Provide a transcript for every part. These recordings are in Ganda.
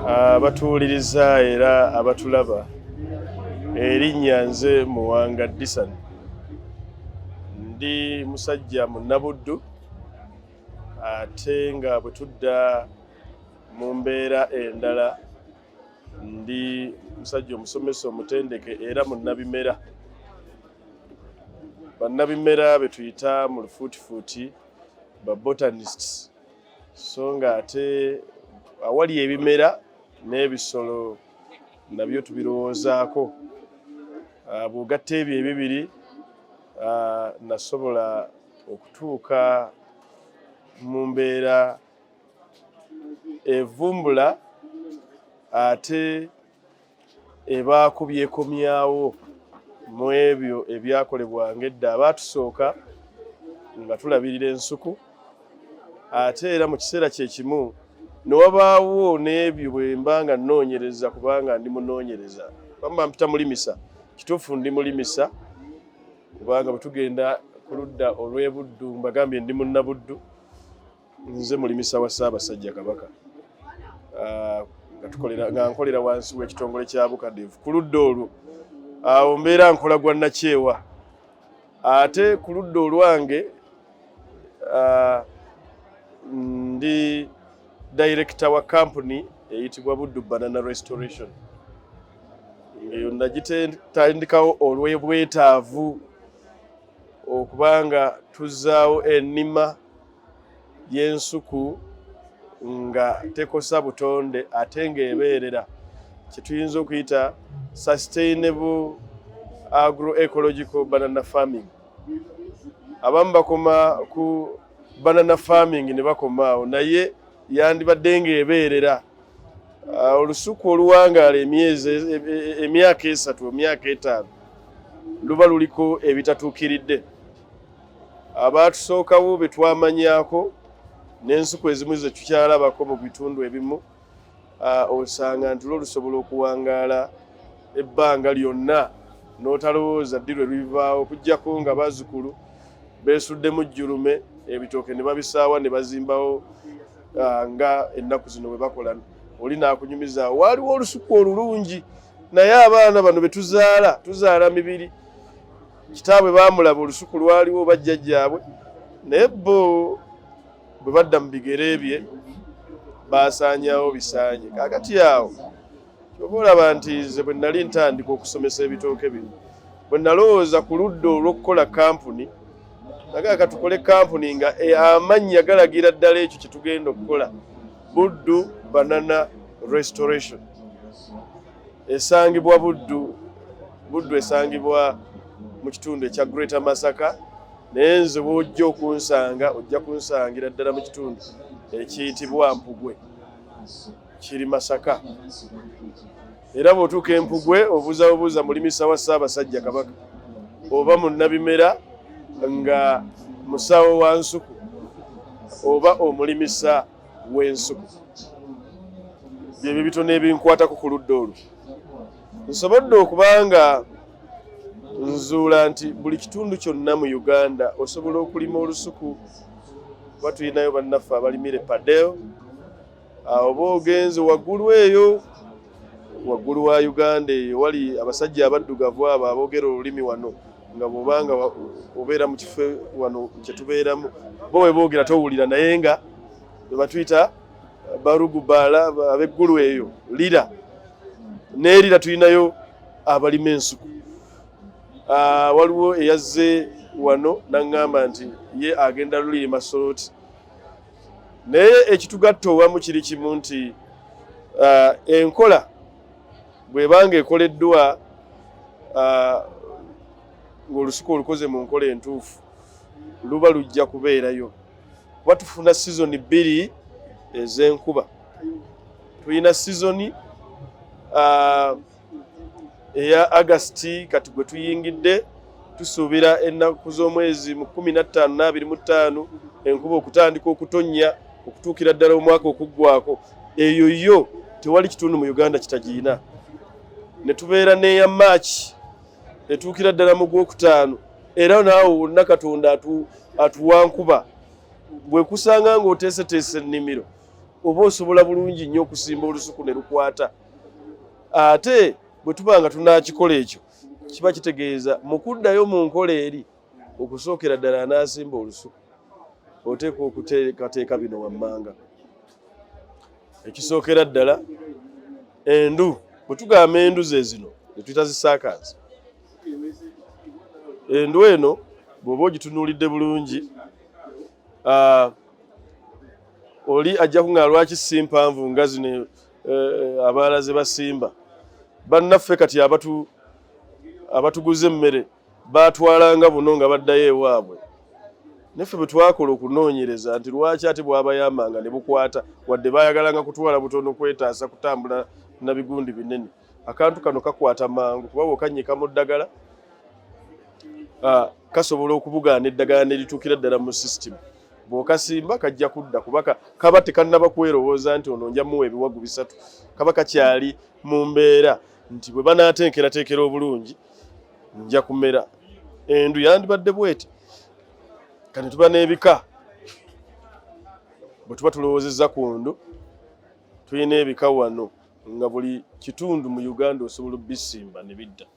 abatuwuliriza era abatulaba erinnya nze muwanga disan ndi musajja munabuddu ate nga bwe tudda mu mbeera endala ndi musajja omusomesa omutendeke era munnabimera bannabimera be tuyita mu lufuutifuuti ba botanists so nga ate awali ebimera n'ebisolo nabyo tubirowoozaako ah, bw'ogatta ebyo ebibiri ah, nasobola okutuuka mu mbeera evumbula ate ebaako byekomyawo mu ebyo ebyakolebwanga edda abaatusooka nga tulabirira ensuku ate era mu kiseera kye kimu ne wabaawo n'ebyo bwe mba nga nnoonyereza kubanga ndi munoonyereza bamba mpita mulimisa kituufu ndi mulimisa kubanga bwe tugenda ku ludda olw'ebuddu mbagambye ndi munnabuddu Nze mulimisa wa Ssaabasajja Kabaka ah, nga nkolera wansi w'ekitongole kya Bukadevu ku ludda olwo awo mbeera nkola gwa nakyewa ate ku ludda olwange ah, ndi dayirekita wa kampuni eyitibwa Buddu Banana Restoration eyo nagitandikawo olw'obwetaavu okuba nga tuzzaawo ennima y'ensuku nga tekosa butonde ate ng'ebeerera kye tuyinza okuyita sustainable agroecological banana farming abamu bakoma ku banana farming ne bakomaawo naye yandibadde ng'ebeerera Ah, olusuku oluwangaala emyezi e, e, e, emyaka esatu emyaka etaano luba luliko ebitatuukiridde abaatusookawo be twamanyako n'ensuku ezimu ze tukyalabako mu bitundu ebimu ah, osanga nti lwo lusobola okuwangaala ebbanga lyonna n'otalowooza ddi lwe lubivaawo okuggyako nga bazzukulu beesuddemu jjulume ebitooke ne babisaawa ne bazimbawo ah, nga ennaku zino bwe bakola oli nakunyumiza waaliwo olusuku olulungi naye abaana bano betuzaala tuzaala mibiri kitaabwe baamulaba olusuku lwaliwo bajjajjaabwe naye bo bwe badda mu bigere bye baasaanyawo bisaanye kaakati awo kyova olaba nti nze bwe nali ntandika okusomesa ebitooke bino bwe nalowooza ku ludda olw'okukola kampuni nagaa katukole kampuni nga e, amannya galagira ddala ekyo kye tugenda okukola buddu banana restoration esangibwa buddu buddu esangibwa mu kitundu ekya greater masaka naye nze bwojja okunsanga ojja kunsangira ddala mu kitundu ekiyitibwa mpugwe kiri Masaka era bw'otuuka Empugwe obuuza bubuuza mulimisa wa Ssaabasajja Kabaka oba munnabimera nga musawo wa nsuku oba omulimisa w'ensuku byebyo bitono ebinkwatako ku ludda olwo nsobodde okuba nga nzuula nti buli kitundu kyonna mu uganda osobola okulima olusuku kuba tulinayo bannaffe abalimire padel oba ogenze waggulu eyo waggulu wa uganda eyo wali abasajja abaddugavu abo aboogera olulimi wano nga bwobanga obeera mu kifo wano kyetubeeramu bo bwe boogera towulira naye nga bebatuyita barugubaala abeggulu eyo lira nerira tulinayo abalima ensuku ah, waliwo eyazze wano naŋŋamba nti ye agenda lulima solooti naye ekitugatta owamu kiri kimu nti uh, enkola bwebanga ekoleddwa uh, ng'olusuku olukoze mu nkola entuufu luba lujja kubeerayo kuba tufuna sizoni bbiri ez'enkuba tulina sizoni uh, eya agasiti kati gwe tuyingidde tusuubira ennaku z'omwezi mu kumi na ttaano n'abiri mu ttaano enkuba okutandika okutonnya okutuukira ddala omwaka okuggwako eyo yo tewali kitundu mu uganda kitagiyina ne tubeera n'eya maaki etuukira ddala mu gwokutaano era naawe wonna katonda atuwa nkuba bwe kusanga ng'oteeseteese ennimiro oba osobola bulungi nnyo okusimba olusuku ne lukwata ate bwe tuba nga tunaakikola ekyo kiba kitegeeza mu kuddayo mu nkola eri okusookera ddala anaasimba olusuku oteekwa okuteekateeka bino wammanga ekisookera ddala endu bwe tugamba endu ze zino netuyita zisaakaazi endu eno bw'oba ogitunuulidde bulungi oli ajja kuŋaa lwaki si mpanvu nga zino eh, abalala ze basimba bannaffe kati abatu abatuguza emmere baatwalanga buno nga baddayo ewaabwe naffe bwe twakola okunoonyereza nti lwaki ate bwabayambanga ne bukwata wadde baayagalanga kutwala butono kwetaasa kutambula na bigundi binene akantu kano kakwata mangu kuba bwokanyika mu ddagala ah, kasobola okubugaana eddagala ne lituukira ddala mu sisitimu bwokasimba kajja kudda kuba kaba tekannaba kwerowooza nti ono nja muwa ebiwagu bisatu kaba kakyali mu mbeera nti bwe banaatenkerateekera obulungi nja kumera endu yandibadde bweti kati tuba n'ebika bwe tuba tulowoozezza ku ndu tulina ebika wano nga buli kitundu mu uganda osobola obisimba ne bidda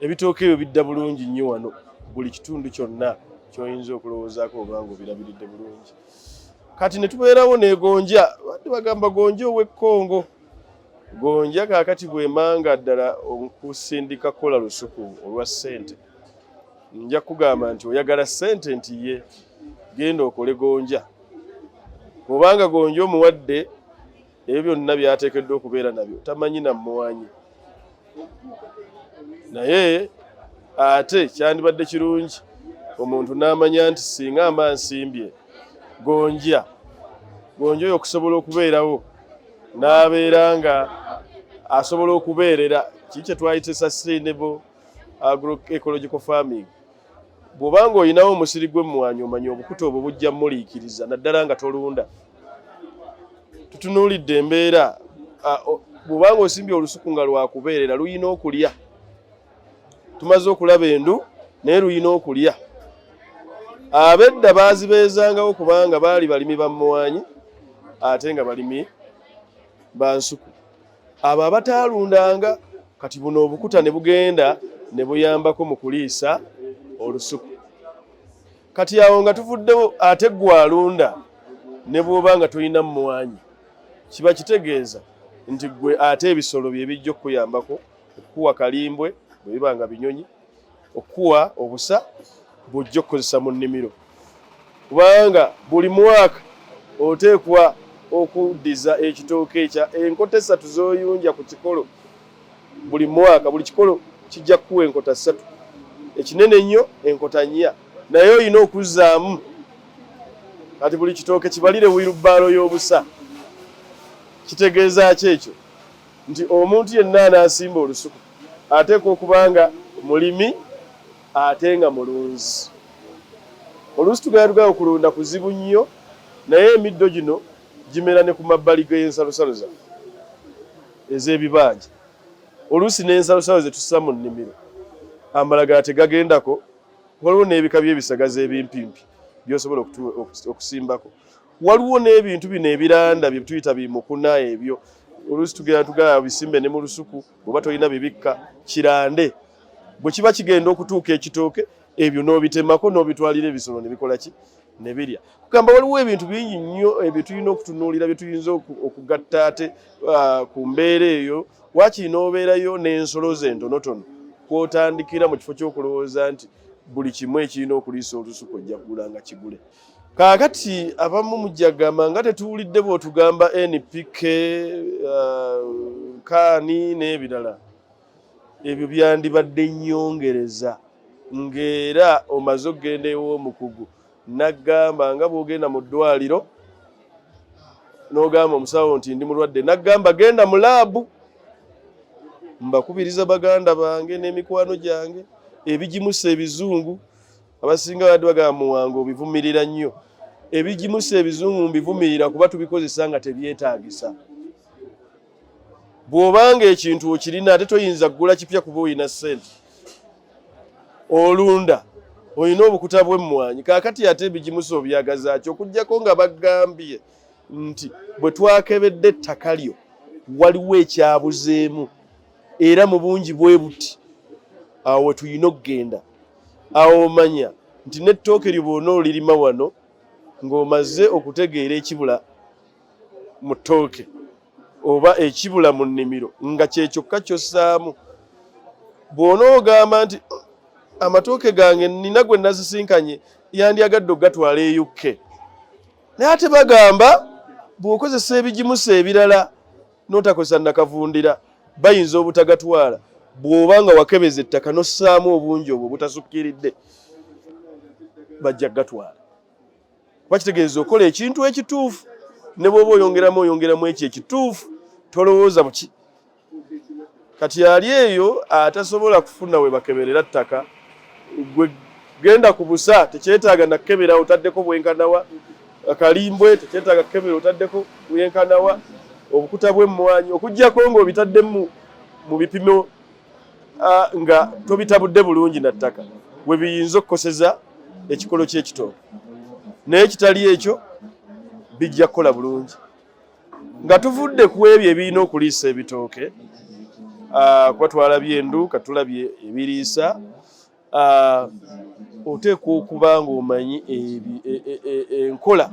ebitooke ebyo bidda bulungi nnyo wano buli kitundu kyonna kyoyinza okulowoozaako obanga obirabiridde bulungi kati ne tubeerawo negonja badde bagamba gonja ow'ekkongo gonja kaakati bwemanga ddala okusindika kukola lusuku olwa ssente nja kugamba nti oyagala ssente nti ye genda okole gonja obanga gonja omuwadde ebyo byonna byateekeddwa okubeera nabyo tamanyi namuwanyi naye ate kyandibadde kirungi omuntu n'amanya nti singa ama nsimbye gonja gonja oyo okusobola okubeerawo n'abeera nga asobola okubeerera kii kyetwayita sustainable agroecological farming bw'oba nga olinawo omusiri gw'emmwanyi omanya obukuta obwo bujja muliikiriza naddala nga tolunda tutunuulidde embeera bw'oba nga osimbye olusuku nga lwakubeerera luyina okulya tumaze okulaba endu naye luyina okulya abedda baazibeezangawo kubanga baali balimi ba mmwanyi ate nga balimi ba nsuku abo abataalundanga kati buno obukuta ne bugenda ne buyambako mu kuliisa olusuku kati awo nga tuvuddewo ate gwe alunda ne bw'oba nga tolina mmwanyi kiba kitegeeza nti gwe ate ebisolo bye bijja okukuyambako okukuwa kalimbwe bwe biba nga binyonyi okukuwa obusa bw'ojja okukozesa mu nnimiro kubanga buli mwaka oteekwa okuddiza ekitooke ekya enkota essatu z'oyunja ku kikolo buli mwaka buli kikolo kijja kukuwa enkota ssatu ekinene ennyo enkota nnya naye olina okuzzaamu kati buli kitooke kibalire wirubaalo y'obusa kitegeeza ki ekyo nti omuntu yenna anaasimba olusuku ateekwa okuba nga mulimi ate nga mulunzi. Oluusi tugenda tugayo kulunda kuzibu nnyo, naye emiddo gino gimera ne ku mabbali g'ensalosalo zaffe ez'ebibanja. Oluusi n'ensalosalo ze tussa mu nnimiro amalagala tegagendako, waliwo n'ebika by'ebisagazi ebimpimpi by'osobola okusimbako. waliwo n'ebintu bino ebiranda bye tuyita bimukuna ebyo oluusi tugenda tugala bisimbe ne mu lusuku oba tolina bibikka kirande bwe kiba kigenda okutuuka ekitooke ebyo n'obitemako n'obitwalira ebisolo ne bikola ki ne birya kugamba waliwo ebintu bingi nnyo ebyo tulina okutunuulira bye tuyinza okugatta ate uh, ku mbeera eyo waakiri n'obeerayo n'ensolo ze ntonotono kwotandikira mu kifo ky'okulowooza nti buli kimu ekirina okuliisa olusuku ojja kugula nga kigule Kaakati abamu mujagamba nga tetuwulidde bw'otugamba NPK uh, kaani n'ebirala ebyo byandibadde nnyongereza ng'era omaze okugenda ew'omukugu naggamba nga bw'ogenda mu ddwaliro n'ogamba omusawo nti ndi mulwadde naggamba genda mu laabu mbakubiriza baganda bange n'emikwano gyange ebigimusa ebizungu abasinga babadde bagamba muwanga obivumirira nnyo ebigimusa ebizungu mbivumirira kuba tubikozesa nga tebyetaagisa bw'obanga ekintu okirina ate toyinza kugula kipya kuba olina ssente olunda olina obukuta bw'emmwanyi kaakati ate ebigimusa obyagazaaki okugyako nga bagambye nti bwe twakebedde ettaka lyo waliwo ekyabuzeemu era mu bungi bwe buti awo wetulina okugenda awo omanya nti n'ettooke lyo bwona olirima wano ng'omaze okutegeera ekibula mu ttooke oba ekibula mu nnimiro nga kyekyokka kyossaamu bwona ogamba nti amatooke gange nina gwe nazisinkanye yandyagadde okugatwala eyukke naye ate bagamba bw'okozesa ebigimusa ebirala n'otakozesa nakavundira bayinza obutagatwala bw'oba nga wakebeza ettaka n'ossaamu obungi obwo obutasukkiridde bajja kugatwala kuba kitegeeza okola ekintu ekituufu ne bw'oba oyongeramu oyongeramu ekyo ekituufu tolowooza buki Kati yali eyo atasobola kufuna we bakeberera ttaka, gwe genda ku busa, tekyetaaga nakukebera otaddeko bwenkanawa, akalimbwe tekyetaaga kukebera otaddeko bwenkanawa, obukuta bw'emmwanyi okuggyako ng'obitaddemu mu bipimo nga tobitabudde bulungi na ttaka we biyinza okukoseza ekikolo ky'ekitooke, naye kitali ekyo bijja kukola bulungi. nga tuvudde ku ebyo ebirina okuliisa ebitooke ah, kuba twalabye endu katulabye ebiriisa ah, oteekwa okuba ng'omanyi e, e, e, enkola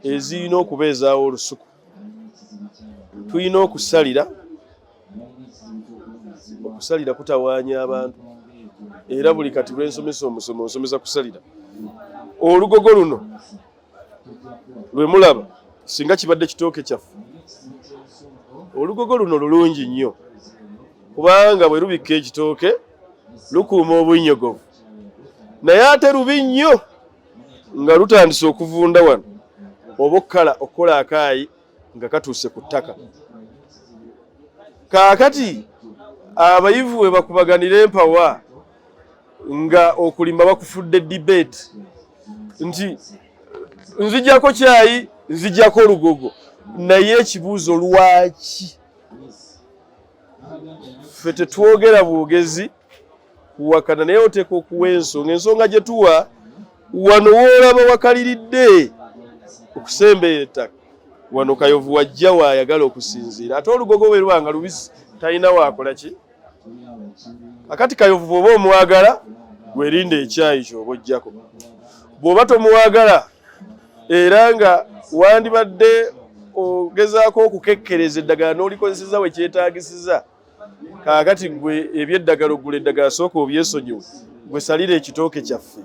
ezirina okubeezaawo olusuku tulina okusalira okusalira kutawaanya abantu era buli kati lwensomesa omusomo nsomesa kusalira olugogo luno lwe mulaba singa kibadde kitooke kyaffe olugogo luno lulungi nnyo kubanga bwe lubikka ekitooke lukuuma obunnyogovu naye ate lubi nnyo nga lutandise okuvunda wano oba okukala okukola akaayi nga katuuse ku ttaka kaakati abayivu we bakubaganira empawa nga okulima bakufudde debate nti nzijako kyayi nzijako olugogo naye ekibuuzo lwaki ffe tetwogera bwogezi kuwakana naye oteeka okuwa ensonga ensonga gye tuwa wano woolaba wakaliridde okusembeera ettaka wano kayovu wajja waayagala okusinziira ate olugogo bwe luba nga lubisi talina waakola ki akati kayovu bw'oba omwagala werinde ekyayi kyoba ojjako bw'oba tomwagala era nga wandibadde ogezaako okukekkereza eddagala n'olikozeseza we kyetaagisiza kaakati gwe ebyeddagala ogula eddagala sooka obyesonyiwe gwe salira ekitooke kyaffe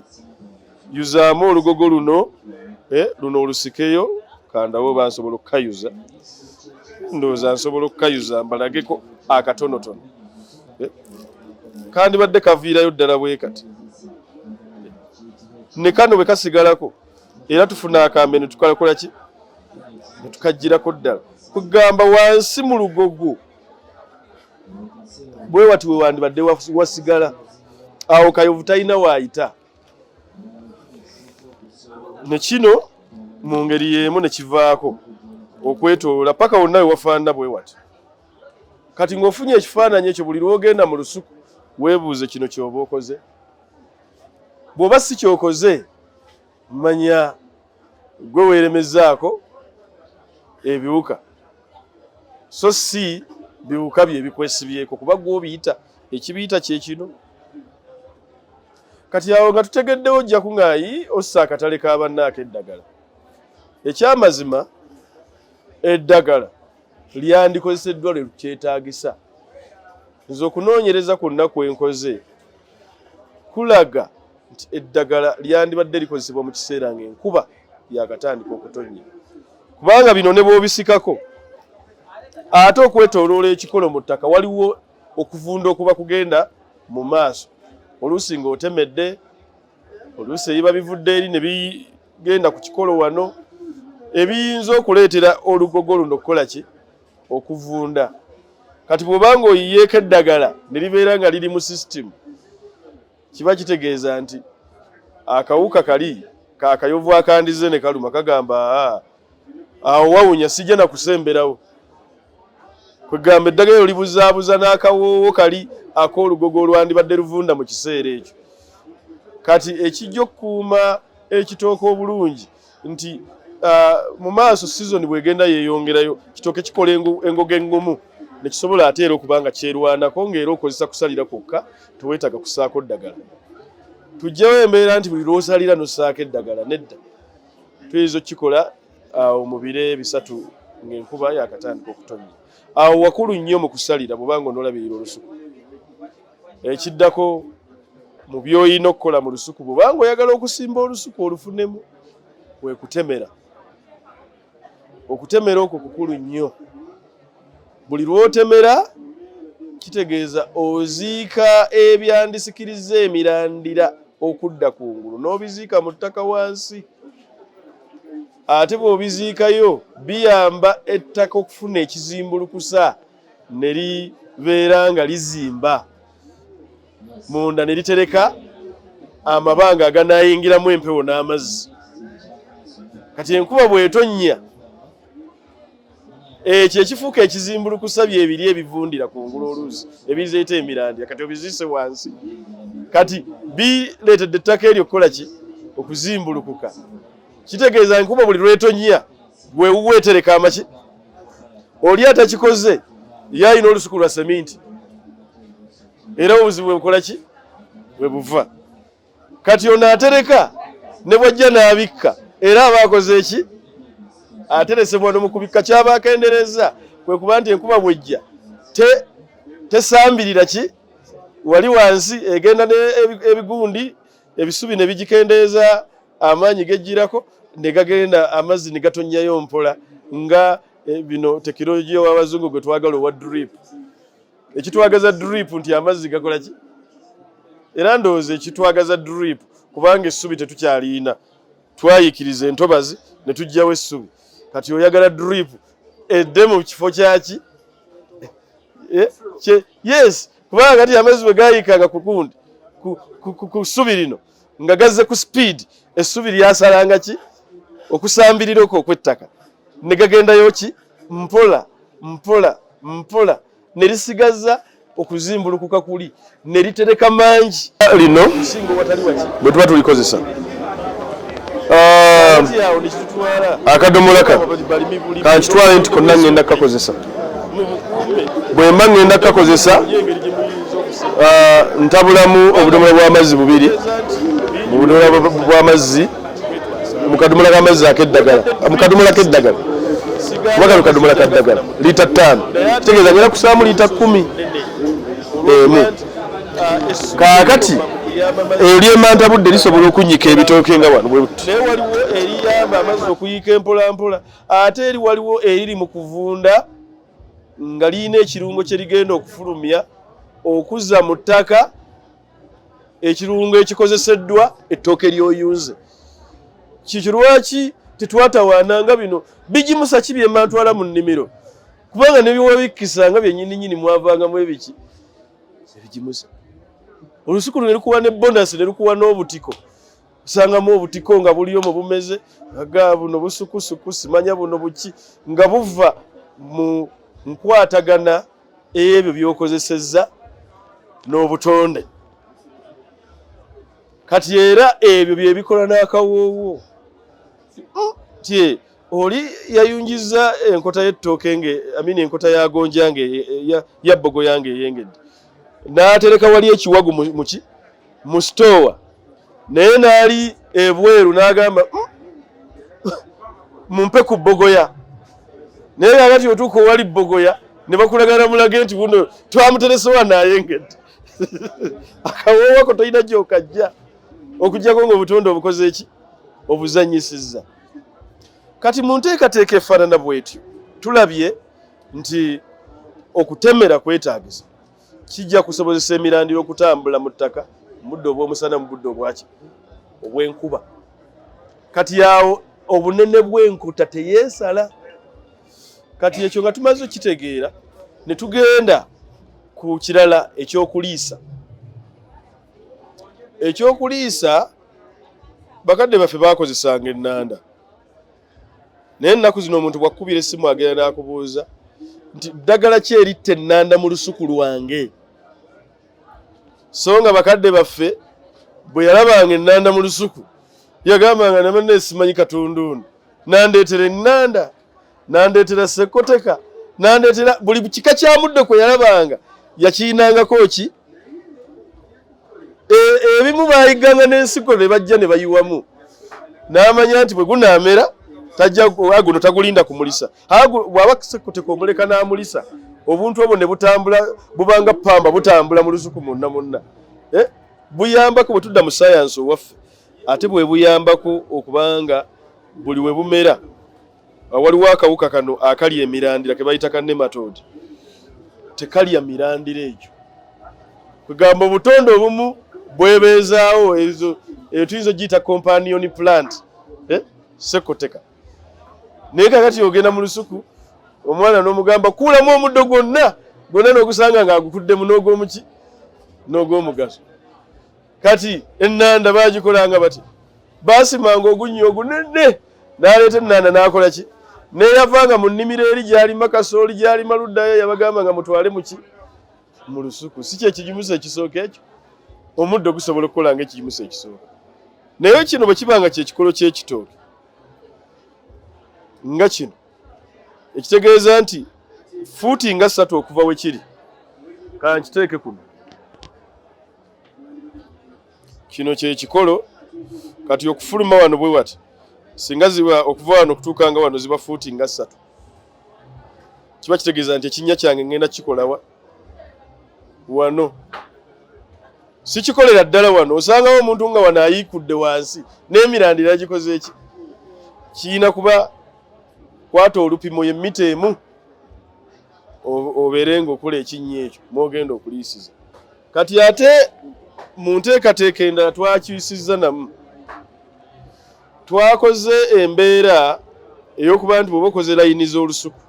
yuzaamu olugogo luno eh, luno olusikeyo kandawo oba nsobola okukayuza ndowooza nsobola okukayuza mbalageko akatonotono eh, kandibadde kaviirayo ddala bwe kati ne kano bwe kasigalako era tufuna akambe netukalakolaki netukajjirako ddala kugamba wansi mu lugogo bwe wati we wandibadde wasigala awo kayovu talina waayita ne kino mu ngeri y'emu ne kivaako okwetoola paka wonna we wafaanana bwe wati kati ng'ofunye ekifaananyi ekyo buli lwogenda mu lusuku weebuuze kino ky'oba okoze bw'oba si ky'okoze manya gwe weeremezaako ebiwuka so si biwuka bye bikwesibyeko kuba gwobiyita ekibiyita kyekino kati awo nga tutegeddewo ojja kuŋaayi ossa akatale ka bannaako eddagala ekyamazima eddagala lyandikozeseddwa lwe lukyetaagisa nze okunoonyereza kwonna kwe nkoze kulaga nti eddagala lyandibadde likozesebwa mu kiseera ng'enkuba yakatandika okutonnya kubanga bino ne bwobisikako ate okwetoloola ekikolo mu ttaka waliwo okuvunda okuba kugenda mu maaso oluusi ng'otemedde oluusi ebiba bivudde eri ne bigenda ku kikolo wano ebiyinza okuleetera olugogo luno okukola ki okuvunda kati bwoba nga oyiyeeko eddagala ne libeera nga liri mu sisitimu kiba kitegeeza nti akawuka kali kakayovu akandize ne kaluma kagamba awo wawunya sijja na kusemberawo kwegamba eddagala ero libuzaabuza n'akawoowo kali ak'olugogo olwandibadde luvunda mu kiseera ekyo kati ekijja okukuuma ekitooka obulungi nti uh, mu maaso sizoni bwegenda yeeyongerayo kitooke kikola engoga engumu nekisobola ate era okuba nga kyerwanako ngaera okozesa kusalira kwokka tewetaaga kusaako ddagala tujjawo embeera nti buli lwosalira nosaako eddagala nedda tuyinza okukikola awo uh, mu biro ebisatu ng'enkuba yakatandika okutonnya awo wakulu nnyo mu kusalira bwobanga onolabirira olusuku ekiddako mu by'olina okukola mu lusuku bwobanga oyagala okusimba olusuku olufunemu wekutemera okutemera okwo kukulu nnyo buli lwotemera kitegeeza oziika ebyandisikiriza emirandira okudda ku ngulu n'obiziika mu ttaka wansi ate bw'obiziikayo biyamba ettaka okufuna ekizimbulukusa ne libeera nga lizimba munda ne litereka amabanga aganaayingiramu empewo n'amazzi kati enkuba bw'etonnya ekyo ekifuuka ekizimbulukusa byebiri ebivundira ku ngulu oluusi ebizeeta emirandira kati obiziise wansi kati bireetedde ettaka eryo okukola ki okuzimbulukuka kitegeeza nkuba buli lwetonnya gwewuwa etereka amaki oli atakikoze ye alina olusuku lwa seminti era obuzibu bwebukola ki bwe buva kati ono atereka ne bwajja n'abikka era aba akoze eki ateresebwa no mu kubikka kyaba akendereza kwe kuba nti enkuba bwejja tesambirira ki wali wansi egenda n'ebigundi ebisubi ne bigikendeeza amaanyi gejjirako ne gagenda amazzi ne gatonnyayo mpola nga e, bino tekinologiya w'abazungu gwe twagala owa drip ekitwagaza drip nti amazzi gakola ki era ndowooza ekitwagaza drip kubanga essubi tetukyaliina twayikiriza entobazi ne tujjawo essubi kati oyagala drip edde mu kifo kyaki eh, yes kubanga kati amazzi bwe gayiikanga ku gundi ku ssubi lino nga gazze ku sipiidi essubi lyasalanga ki okusambirira okwo okwettaka ne gagendayo ki mpola mpola mpola ne lisigaza okuzimbulukuka kuli ne litereka mangi lino bwe tuba tulikozesa Um, akadomola ka kankitwale nti konna ŋŋenda kukakozesa bwe mba ŋŋenda kukakozesa uh, ntabulamu obudomola bw'amazzi bubiri mu budomola bw'amazzi mu kadomola k'amazzi ak'eddagala mu kadomola k'eddagala kuba kano kadomola ka ddagala liita ttaano kitegeeza ngera kusaamu liita kkumi emu kaakati eryemanta budde lisobola okunnyika ebitooke nga wano bwebuti naye waliwo eriyamba amazzi okuyiika empolampola ate eri waliwo eriri mu kuvunda nga lirina ekirungo kye rigenda okufulumya okuzza mu ttaka ekirungo ekikozeseddwa ettooke ly'oyunze kikirwaki tetwatawaana nga bino bigimusa ki byemantwala mu nnimiro kubanga nebiwabikkisa nga byenyini nyini mwavangamu ebiki ebigimusa olusuku luno lukuwa ne bonasi nelukuwa n'obutiko osangamu obutiko nga buliyo mu bumeze aga buno busukusuku simanya buno buki nga buva mu nkwatagana ebyo byokozesezza n'obutonde kati era ebyo byebikola n'akawoowo tye oli yayunjizza enkota y'ettooke nge amini enkota ya gonja nge ya bbogo yange eyengedde n'atereka wali ekiwagu muki mu sitoowa naye n'ali ebweru n'agamba hmm, mumpe ku bbogoya naye kakati otuuka owali bbogoya ne bakulagana mulage nti buno twamuteresewa nayengedde akawoowako tolina gyokajja okujjako ngaobutonde obukoze eki obuzanyisiza kati mu nteekateeka efaanana bwetyo tulabye nti okutemera kwetaagisa kijja kusobozesa emirandira okutambula mu ttaka mudde obw'omusana mu budde obwaki obw'enkuba kati yawo obunene bw'enkuta teyeesala kati ekyo nga tumaze okitegeera ne tugenda ku kirala ekyokuliisa ekyokuliisa bakadde baffe baakozesanga ennanda naye ennaku zino omuntu bwakkubira essimu agenda n'akubuuza nti ddagala ki eritta ennanda mu lusuku lwange so nga bakadde baffe bwe yalabanga ennanda mu lusuku yagambanga namanna esimanyi katundu ono nandeetera ennanda nandeetera sekoteka nandeetera buli kika kya muddo kwe yalabanga yakiinangako ki e, ebimu bayigganga n'ensigo ne bajja ne bayiwamu n'amanya nti bwe gunaamera tajja guno tagulinda kumulisa bw'aba sekoteka omuleka n'amulisa obuntu obwo ne butambula bubanga pamba butambula mu lusuku munna munna eh? buyambako bwe tudda mu sayansi owaffe ate bwe buyambako okubanga buli we bumera waliwo akawuka kano akalya emirandira ke bayita ka nematode tekalya mirandira egyo kugamba obutonde obumu bwebeezaawo ezo eyo tuyinza ogiyita companion plant eh? sekoteka naye kakati ogenda mu lusuku omwana n'omugamba kuulamu omuddo gwonna gwonna n'ogusanga ng'agukuddemu n'ogwomuki n'ogwomugaso kati ennanda bagikolanga bati baasimanga ogunnya ogunene n'aleeta ennanda n'akola ki neyavanga mu nnimiro eri gyalima kasooli gyalima luddayo yabagamba nga mutwale muki mu lusuku si kyekigimusa ekisooka ekyo omuddo gusobola okukola nga ekigimusa ekisooka naye kino bwe kiba nga kyekikolo kyekitooke nga kino ekitegeeza nti fuuti nga ssatu okuva we kiri kankiteeke kuno kino kyekikolo kati okufuluma wano bwe wati singa ziba okuva wano okutuuka nga wano ziba fuuti nga ssatu kiba kitegeeza nti ekinnya kyange ngenda kikolawa wano sikikolera ddala wano osangawo omuntu nga wano ayiikudde wansi n'emirandira gikoze eki kiyina kuba kwata olupimo ye mita emu obeere ngaokola ekinnya ekyo mwogenda okuliisiza Kati ate mu nteekateeka endala twakyusizza namu, twakoze embeera ey'okuba nti bw'oba okoze layini z'olusuku,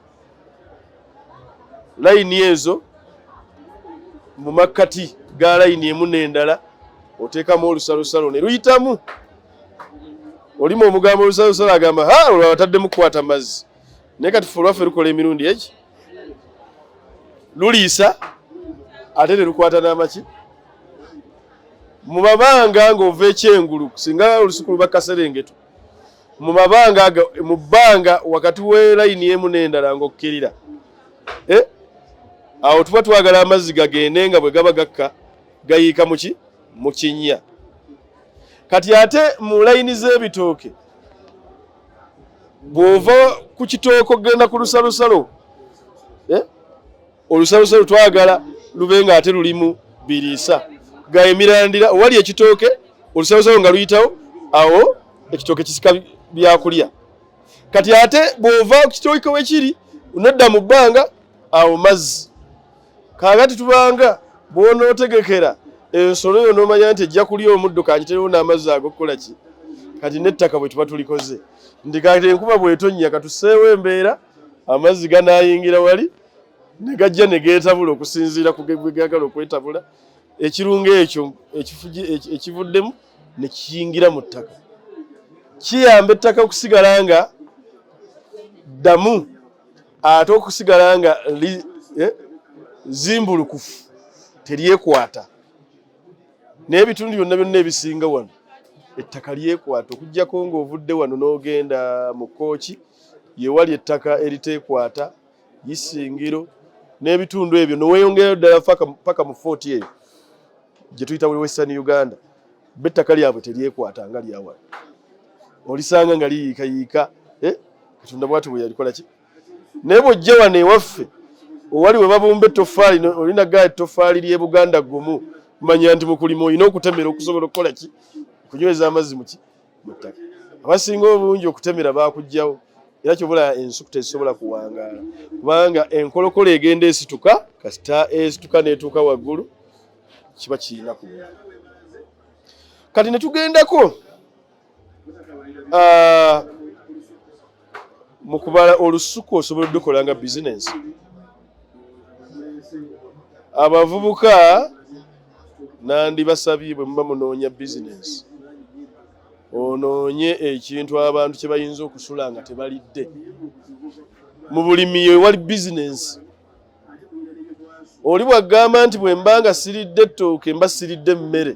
layini ezo mu makkati ga layini emu n'endala oteekamu olusalosalo ne luyitamu. Olimu omugambo olusalosalo agamba ha olwo abataddemu kukwata mazzi. naye kati ffe olwaffe lukola emirundi eki luliisa ate ne lukwata n'amaki mu mabanga ng'ova ekyengulu singa olusuku luba kaserengeto mu mabanga mu bbanga wakati w'elayini emu n'endala ng'okkirira eh? awo tuba twagala amazzi gagende nga bwe gaba gakka gayiika muki mu kinnya kati ate mu layini z'ebitooke bw'ova ku kitooke okugenda ku lusalosalo eh? olusalosalo twagala lube nga ate lulimu biriisa ga emirandira owali ekitooke olusalosalo nga luyitawo awo ekitooke kisika byakulya kati ate bw'ova ku kitooke wekiri nodda mu bbanga awo mazzi kaagati tubanga bw'onootegekera ensolo yo n'omanya nti ejja kulya omuddo kagiterewo n'amazzi agokukola ki kati n'ettaka bwe tuba tulikoze ndi kati enkuba bw'etonnya katuseewo embeera amazzi ganaayingira wali ne gajja ne geetabula okusinziira ku bwe gaagala okwetabula ekirungo ekyo ekivuddemu ne kiyingira mu ttaka kiyamba ettaka okusigala nga ddamu ate okusigala nga eh, zimbulukufu teryekwata naye ebitundu byonna byonna ebisinga wano ettaka lyekwata okujjako ng'ovudde wano n'ogenda mu kooki yewali ettaka eritekwata isingiro n'ebitundu ebyo neweyongerayo ddala paka mu footi eyo gye tuyita buli western uganda be ettaka lyabwe teryekwata nga lyawala olisanga nga liyiikayiika eh? katonda bwati bweyalikola ki naye bwojja wano ewaffe owali webabumba ettofaali olina gaa ettofaali lyebuganda gumu manya nti mukulima olina okutemera okusobola okukola ki okunyweza amazzi muki muttaka abasinga obungi okutemera bakugjawo era kyobula ensuku tezisobola kuwangaala kubanga enkolokola egenda esituka kasita esituka netuuka waggulu kiba kirina ku kati netugendako Ah, mu kubala olusuku osobola odukola nga bizinensi abavubuka nandibasabye bwe muba munoonya bizinensi onoonye ekintu abantu kye bayinza okusula nga tebalidde mu bulimi yo ewali bizinensi oli bwagamba nti bwe mba nga siridde ettooke mba siridde emmere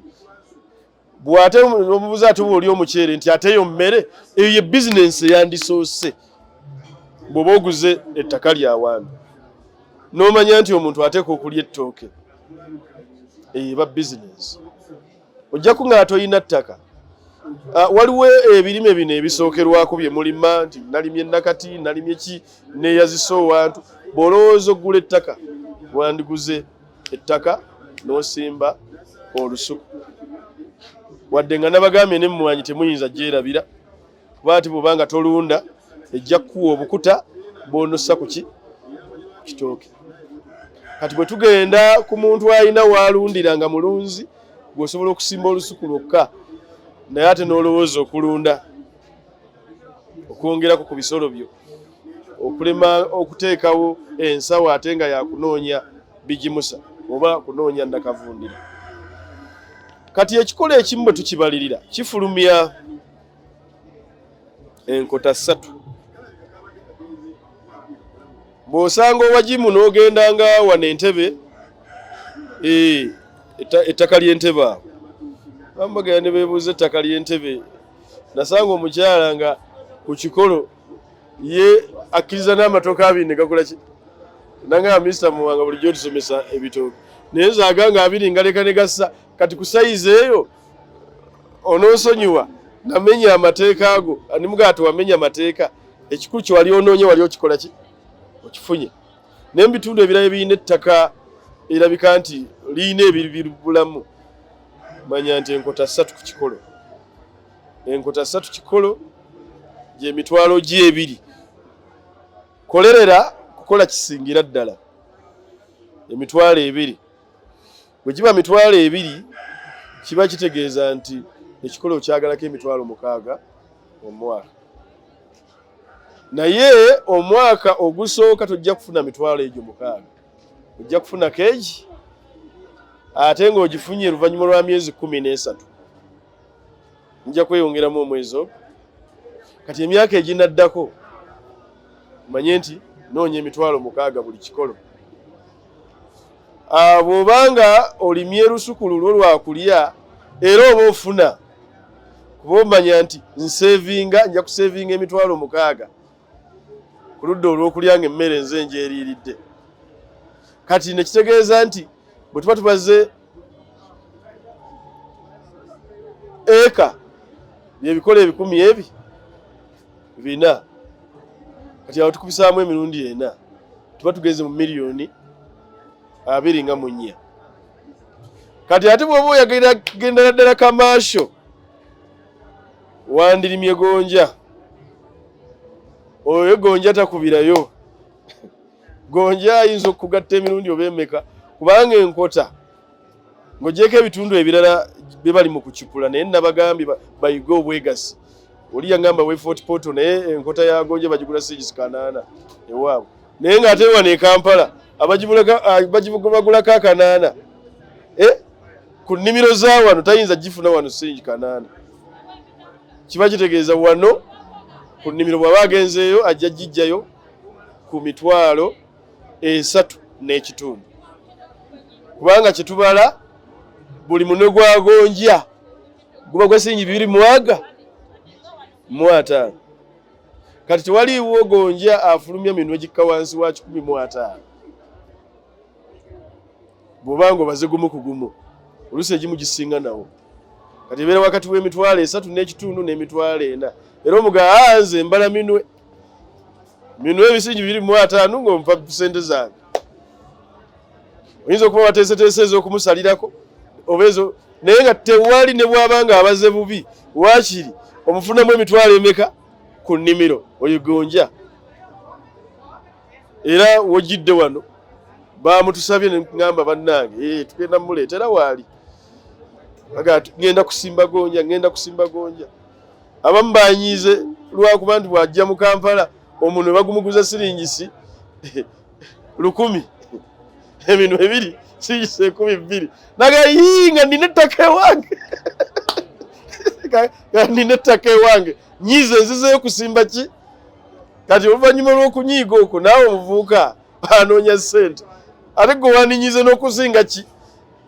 bwe ate omubuuza ate oba oli omuceere nti ate eyo mmere eyo ye bizinensi eyandisoose bw'oba oguze ettaka lya waami n'omanya nti omuntu ateeka okulya ettooke eyo eba bizinensi ojja ku nga tolina ttaka ah, waliwo ebirime bino ebisookerwako bye mulima nti nalimye nakati nalimye ki neeyazisa owantu bw'olowooza oggula ettaka wandiguze ettaka n'osimba olusuku wadde nga nabagambye ne mmwanyi temuyinza gyerabira kuba ati bwoba nga tolunda ejja kukuwa obukuta bwonossa ku ki kitooke kati bwe tugenda ku muntu alina waalundira nga mulunzi gweosobola okusimba olusuku lwokka naye ate n'olowooza okulunda okwongerako ku bisolo byo okulema okuteekawo ensawo ate nga yakunoonya bigimusa oba kunoonya nakavundira kati ekikolo ekimu bwe tukibalirira kifulumya enkota ssatu bw'osanga owagimu n'ogenda nga wano entebe ettaka ly'entebe awo bamubagera ne beebuuza ettaka ly'entebe nasanga omukyala nga ku kikolo ye akkiriza n'amatooke abiri ne gakola ki nangamba minisita muwanga bulijjo otusomesa ebitooke naye nzaaga nga abiri ngaleka ne gassa kati ku sayizi eyo ononsonyiwa namenya amateeka ago animugaa tewamenya mateeka ekikulu kyewali onoonye wali okikola ki okifunye naye mu bitundu ebirala ebirina ettaka erabika nti lirina ebiribulamu manya nti enkota ssatu ku kikolo enkota ssatu kikolo gyemitwalo gyebiri kolerera kukola kisingira ddala emitwalo ebiri bwe giba mitwalo ebiri kiba kitegeeza nti ekikolo kyagalako emitwalo mukaaga omwaka naye omwaka ogusooka tojja kufuna mitwalo egyo mukaaga ojja kufuna keegi ate ng'ogifunye oluvannyuma lwa myezi kumi n'esatu nja kweyongeramu omwezi ogwo kati emyaka eginaddako manye nti noonya emitwalo mukaaga buli kikolo ah, bw'oba nga olimye lusuku lulwo lwakulya era oba ofuna kuba omanya nti nsevinga nja kusevinga emitwalo mukaaga ku ludda olw'okulya nga emmere nze njeeriiridde kati nekitegeeza nti bwe tuba tubaze eka byebikola ebikumi ebi bina kati awo tukubisaamu emirundi ena tuba tugenze mu miliyoni abiri nga munya kati ate bwoba oyagenda ddala kamaasho wandirimye gonja oyo gonja takubirayo gonja ayinza okugatta emirundi oba emeka kubanga enkota ng'ogyeko ebitundu ebirala bye bali mu kucupula naye nabagambye bayige obwegassi oli yangamba wefort poto naye enkota yagonja bagigula siigisi kanaana ewaabwe naye nga ate wano ekampala bagibagulako ah, akanaana eh? ku nnimiro za wano tayinza gifuna wano singi kanaana kiba kitegeeza wano ku nnimiro bwaba agenzeeyo ajja gijjayo ku mitwalo esatu n'ekitundu kubanga kyetubala buli mune gwagonja guba gwasingi bibiri mwaga mwataano kati tewaliiwo gonja afulumya minwe gikka wansi wa kikumi mu ataano bwoba nga obaze gumu ku gumu oluusi egimu gisinga nawo kati ebeera wakati w'emitwalo esatu n'ekitundu n'emitwalo ena era omuga anze ah, mbala minwe minwe ebisingi biri mu ataano ng'ompa sente zange oyinza okuba wateeseteese ez'okumusalirako oba ezo naye nga tewali ne bwaba nga abaze bubi waakiri omufunamu emitwalo emeka ku nnimiro oyigonja era wojjidde wano bamutusabye nengamba bannange eh, tugenda muleetera waali ngenda kusimba gonja ngenda kusimba gonja abamu banyiize lwakuba nti bwajja mu kampala omuntu ne bagumuguza siringisi lukumi ebintu ebiri kiyise ekumi bbiri naga yii nga nina ettaka ewange nga nina ettaka ewange nyiiza enzizeyo kusimba ki kati oluvannyuma lw'okunyiiga okwo naawe omuvuuka anoonya ssente ate gwe waninyize n'okusinga ki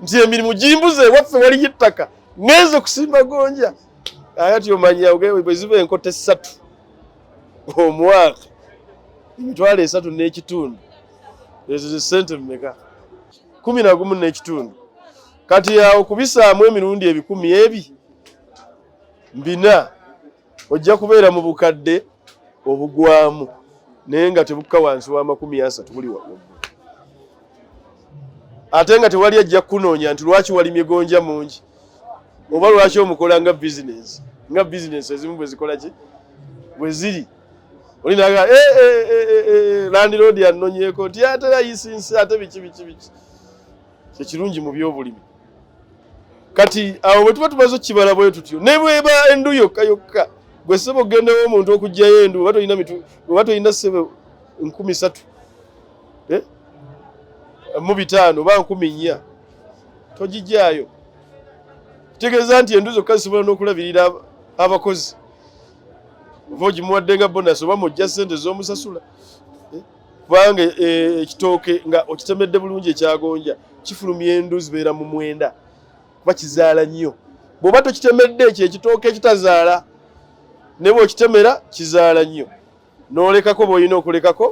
nti emirimu gimbuze ewaffe waliyo ettaka ngenze kusimba gonja ayati omanya bweziba enkota essatu omwaka emitwalo esatu n'ekitundu ezo ze sente mumeka kumi na gumu n'ekitundu kati awo kubisaamu emirundi ebikumi ebi mbina ojja kubeera mu bukadde obugwamu naye nga tebukka wansi w'amakumi asatu buli wamu ate nga tewali ajja kukunoonya nti lwaki walimye gonja mungi oba lwaki omukola nga bizinesi nga bizinesi ezimu bwezikola ki bweziri olinaga eh, eh, eh, landiroodi anonyeeko nti ate layisinsi ate biki biki biki kyekirungi mu byobulimi kati awo bwetuba tumaze okukibala bwe tutyo ne bweba endu yokka yokka gwe sebo ogendawo omuntu okugjayo endu oba tolina mitu oba tolina sebo nkumi satu mu bitaano oba nkumi nnya togijjaayo kitegeeza nti endu zokka zisobola n'okulabirira abakozi ova ogimuwadde nga bonasi oba mujja sente z'omusasula eh, kubanga eh, ekitooke nga okitemedde bulungi ekyagonja kifulumya endu zibeera mu mwenda kuba kizaala nnyo bw'oba tokitemedde ekyo ekitooke ekitazaala ne bwokitemera kizaala nnyo n'olekako b'olina okulekako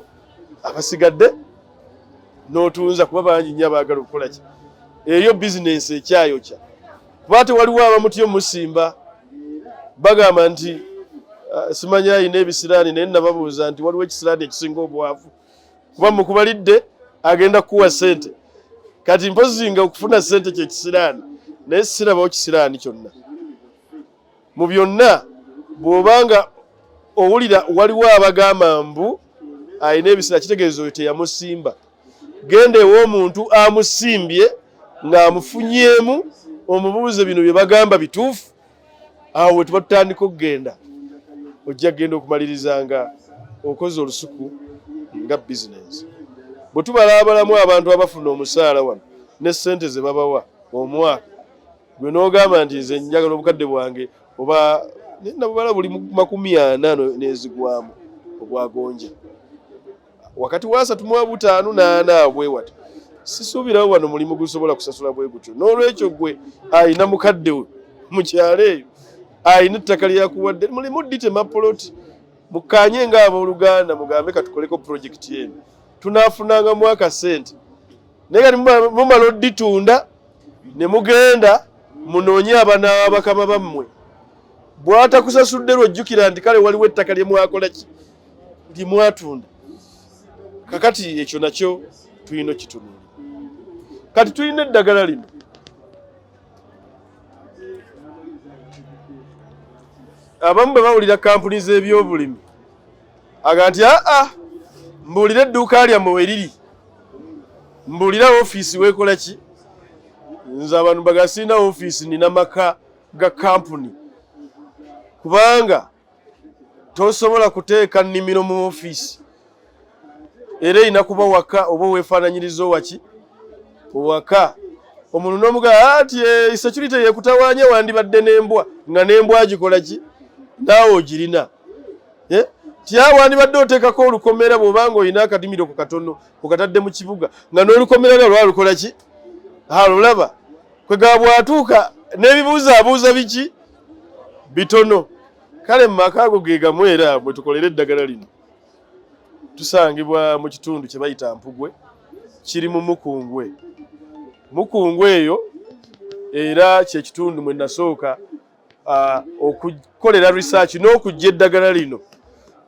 abasigadde n'otunza kuba bangi nnyo abaagala okukola ki eyo bizinensi ekyayokya kuba ate waliwo abamutyo musimba bagamba nti ah, simanya ayina ebisiraani naye nababuuza nti waliwo ekisiraani ekisinga obwavu kuba mukubalidde agenda kukuwa sente kati mpozi nga okufuna sente kyekisiraani naye sirabawo kisiraani kyonna mu byonna bw'obanga owulira waliwo abagamba mbu alina ebiseera kitegeeza oyo teyamusimba genda ew'omuntu amusimbye ng'amufunyeemu omubuuze bino bye bagamba bituufu awo we tuba tutandika okugenda ojja kugenda okumaliriza nga okoze olusuku nga bizinensi bwe tubalaabalamu abantu abafuna omusaala wano ne ssente ze babawa omwaka gwe n'ogamba nti nze njagala obukadde bwange oba nabubala buli makumi ana nezigwamu ogwagonja wakati wasatu mu abutaano naana abwewati sisuubirawo wano mulimu gusobola kusasula bwe gutyo n'olwekyo gwe ayina mukadde we mu kyalo eyo ayina ettaka lyeyakuwadde mulimu ditema poloti mukanye nga abooluganda mugambe katukoleko pulojekiti eno tunafunangamu akasente naye kati mumala oditunda ne mugenda munoonye abana bakama bammwe bwatakusasudde lwojjukira nti kale waliwo ettaka lye mwakola ki lye mwatunda kakati ekyo nakyo tulina okitunuula kati tulina eddagala lino abamu bwe bawulira kampuni z'ebyobulimi aga nti aa ah, ah, mbuulira edduuka lyammwe we liri mbuulira ofiisi weekola ki nze abantu bagasirina ofiisi nina maka ga kampuni kubanga tosobola kuteeka nnimiro mu ofiisi era erina kuba waka oba weefaananyiriza owaki owaka omuntu nomugaa ati ah, esecurity eh, yekutawanya wandibadde nembwa nga nembwa gikola ki naawe ogirina eh? tyawo wandibadde oteekako olukomera bwoba nga olina akadimiro ku katono okatadde mu kibuga nga n'olukomera lwa lwalukola ki alulaba kwegaba bwatuuka n'ebibuuzo abuuza biki bitono kale mu maka ago ge gamu era bwe tukolera eddagala lino tusangibwa mu kitundu kye bayita mpugwe kiri mu mukungwe mukungwe eyo era kyekitundu mwe nasooka uh, okukolera research n'okujja eddagala lino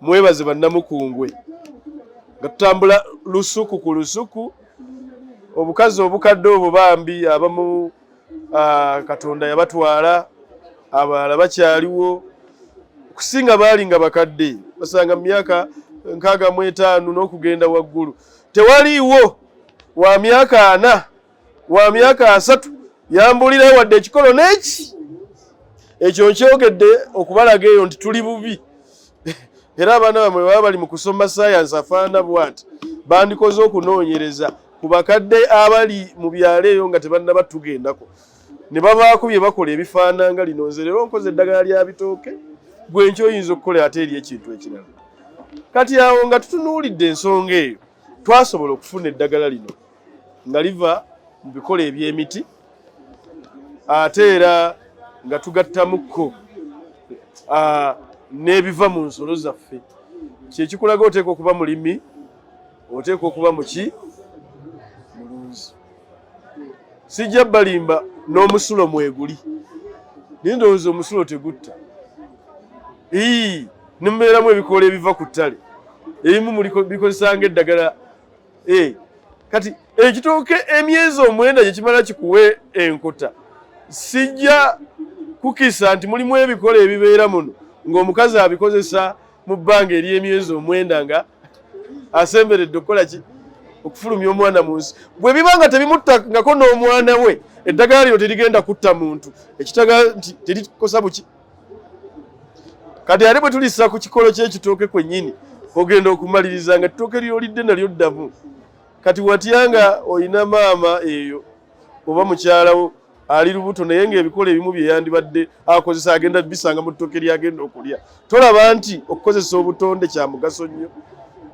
mwebaze bannamukungwe nga tutambula lusuku ku lusuku obukazi obukadde obwo bambi abamu uh, katonda yabatwala abalala bakyaliwo okusinga baali nga bakadde basanga mu myaka nkaaga mu etaano n'okugenda waggulu tewaliiwo wa myaka ana wa myaka asatu yambulirayo wadde ekikolo neki ekyo nkyogedde okubalaga eyo nti tuli bubi era abaana bamwe baba bali mu kusoma sayansi afaana bwati bandikoze okunoonyereza ku bakadde abali mu byalo eyo nga tebannaba tugendako ne babaako bye bakola ebifaananga lino nze leero nkoze eddagala lya bitooke gwe nky oyinza okukola ate eri ekintu ekirala kati awo nga tutunuulidde ensonga eyo twasobola okufuna eddagala lino nga liva mu bikolo eby'emiti ate era nga tugattamukko n'ebiva mu nsolo zaffe kyekikulaga oteekwa okuba mulimi oteekwa okuba muki mulunzi sijja balimba n'omusulo mweguli naye ndowooza omusulo tegutta ii nemubeeramu ebikoola ebiva ku ttale ebimu bikozesanga eddagala Eh, kati ekitooke emyezi omwenda gye kimala kikuwe enkota sijja kukisa nti mulimu ebikola ebibeera muno ng'omukazi abikozesa mu bbanga ery'emyezi omwenda nga asemberedde okukola ki okufulumya omwana mu nsi bwe biba nga tebimuttangako n'omwana we eddagala lino terigenda kutta muntu ekitaga nti terikosa buki kati ate bwe tulisa ku kikolo ky'ekitooke kwennyini ogenda okumaliriza nga ttooke lyolidde nalyo ddamu kati watya nga olina maama eyo oba mukyalawo ali lubuto naye ngaebikola ebimu byeyandibadde akozesa agenda bisanga mu ttooke lyagenda okulya tolaba nti okukozesa obutonde kya mugaso nnyo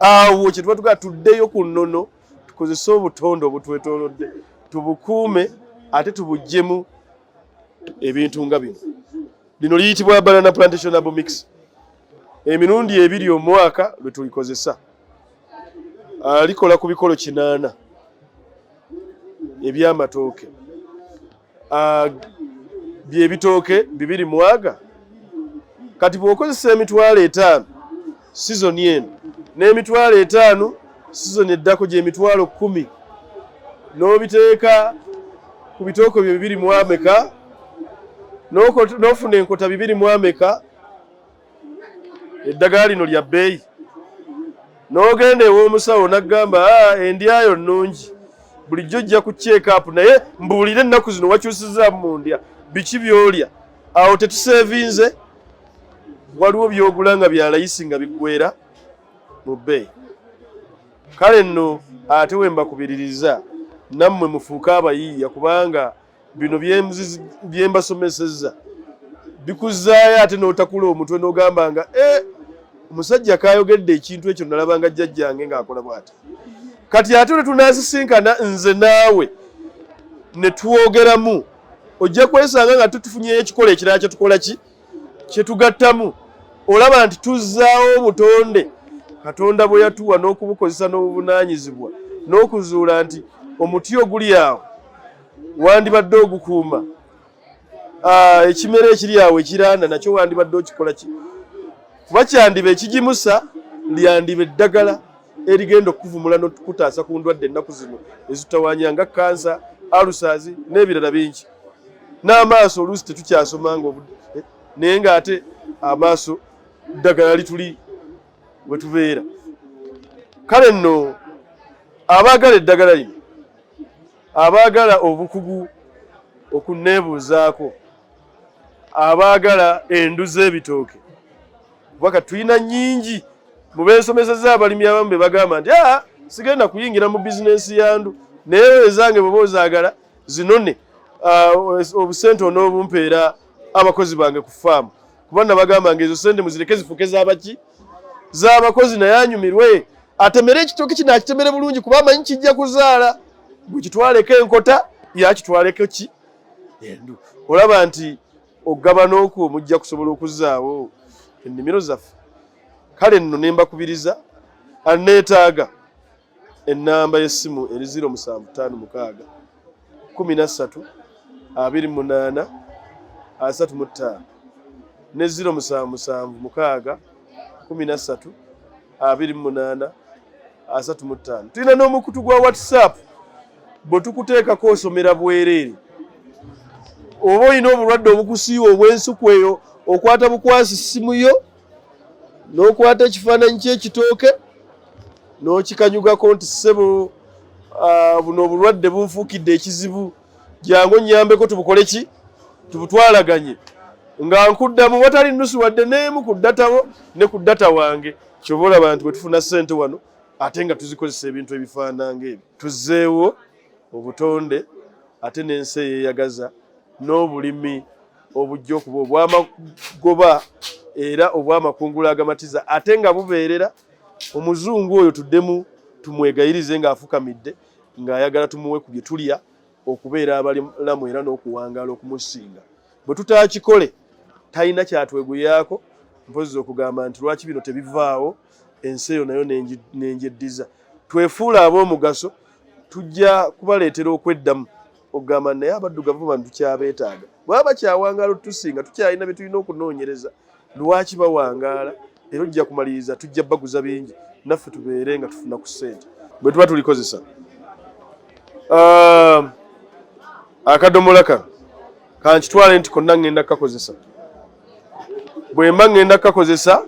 awo kyetuba tugaa tuddeyo ku nnono tukozese obutonde obutwetoolodde tubukuume ate tubuggyemu ebintu nga bino lino liyitibwa banana plantation abo mix emirundi ebiri omwaka lwe tulikozesa ah, likola ku bikolo kinaana eby'amatooke Ah, byebitooke bibiri mwaga kati bwokozesa emitwalo etaano sizoni eno n'emitwalo etaano sizoni eddako gyemitwalo kumi n'obiteeka ku bitooko byo bibiri mwameka n'ofuna enkota bibiri mwameka eddagala lino lya bbeeyi n'ogenda ew'omusawo n'agamba ah, endyayo nnungi bulijjo ojja ku kyekaapu naye mbuulire ennaku zino wakyusizaamu mu ndya biki byolya awo tetuseevinze waliwo byogula nga byalayisi nga biggwera mu bbeeyi kale nno ate wembakubiririza nammwe mufuuke abayiiya kubanga bino bye mbasomesezza bikuzzaayo ate n'otakula omutwe n'ogamba nga eh, omusajja kayogedde ekintu ekyo nalabanga jjajjange ng'akola bwati kati ate lwe tunaasisinkana nze naawe ne twogeramu ojja kwesanga nga tutufunyeyo ekikola ekirala kye tukola ki kyetugattamu olaba nti tuzzaawo obutonde katonda bwe yatuwa n'okubukozesa n'obuvunaanyizibwa n'okuzuula nti omuti oguli awo wandibadde ogukuuma ah, ekimera ekiri awo ekiranda nakyo wandibadde okikola ki kuba kyandiba ekigimusa lyandiba eddagala erigenda okukuvumula nokutaasa ku ndwadde ennaku zino ezitawanya nga kansa alusazi n'ebirala bingi n'amaaso oluusi tetukyasoma nga eh, naye ng'ate amaaso ddagala lituli we tubeera kale nno abaagala eddagala lino abaagala obukugu okunneebuuzaako abaagala endu z'ebitooke kuba ka tulina nnyingi mu beesomeseza abalimi abamu be bagamba nti aa ah, sigenda kuyingira mu bizinensi ya ndu naye ezange bweba ozaagala zinone uh, obusente onoobumpeera abakozi bange ku faamu kuba nabagamba nga ezo sente muzireke zifuke zabaki zabakozi naye anyumirwe atemere ekitoki kino akitemere bulungi kuba amanyi kijja kuzaala bwekitwaleko enkota yakitwaleko ki endu olaba nti okugabana okwo mujja kusobola okuzaawo ennimiro zaffe kale nno nembakubiriza aneetaaga ennamba y'essimu eri 0756132835 ne 0776132835 tulina n'omukutu gwa whatsapp bwe tukuteekako osomera bwereere oba olina obulwadde obukusiiwa obw'ensuku eyo okwata bukwasi ssimu yo n'okwata ekifaananyi ky'ekitooke n'okikanyugako nti ssebo ah, buno obulwadde bunfuukidde ekizibu jangu nnyambeko tubukole ki tubutwalaganye nga nkuddamu watali nnusu wadde n'emu ku ddatawo ne ku ddata wange kyoba olaba nti bwe tufuna ssente wano ate nga tuzikozesa ebintu ebifaananga ebyo tuzzeewo obutonde ate n'ensi eyeyagaza n'obulimi obujja okuba obw'amagoba era obw'amakungula agamatiza ate nga bubeerera omuzungu oyo tuddemu tumwegayirize ng'afukamidde ng'ayagala tumuwe ku bye tulya okubeera abalamu era n'okuwangaala okumusinga bwe tutaakikole talina kyatweguyaako mpozi okugamba nti lwaki bino tebivaawo ensi eyo nayo nengyeddiza twefuula ab'omugaso tujja kubaleetera okweddamu ogamba naye abaddugavu bano tukyabeetaaga bwaba bakyawangaala otutusinga tukyalina bye tulina okunoonyereza lwaki bawangaala era ojja kumaliriza tujja baguza bingi naffe tubeere nga tufuna ku ssente bwe tuba tulikozesa um, akadomola kano kankitwale nti konna ŋŋenda kukakozesa bwe mba ŋŋenda kukakozesa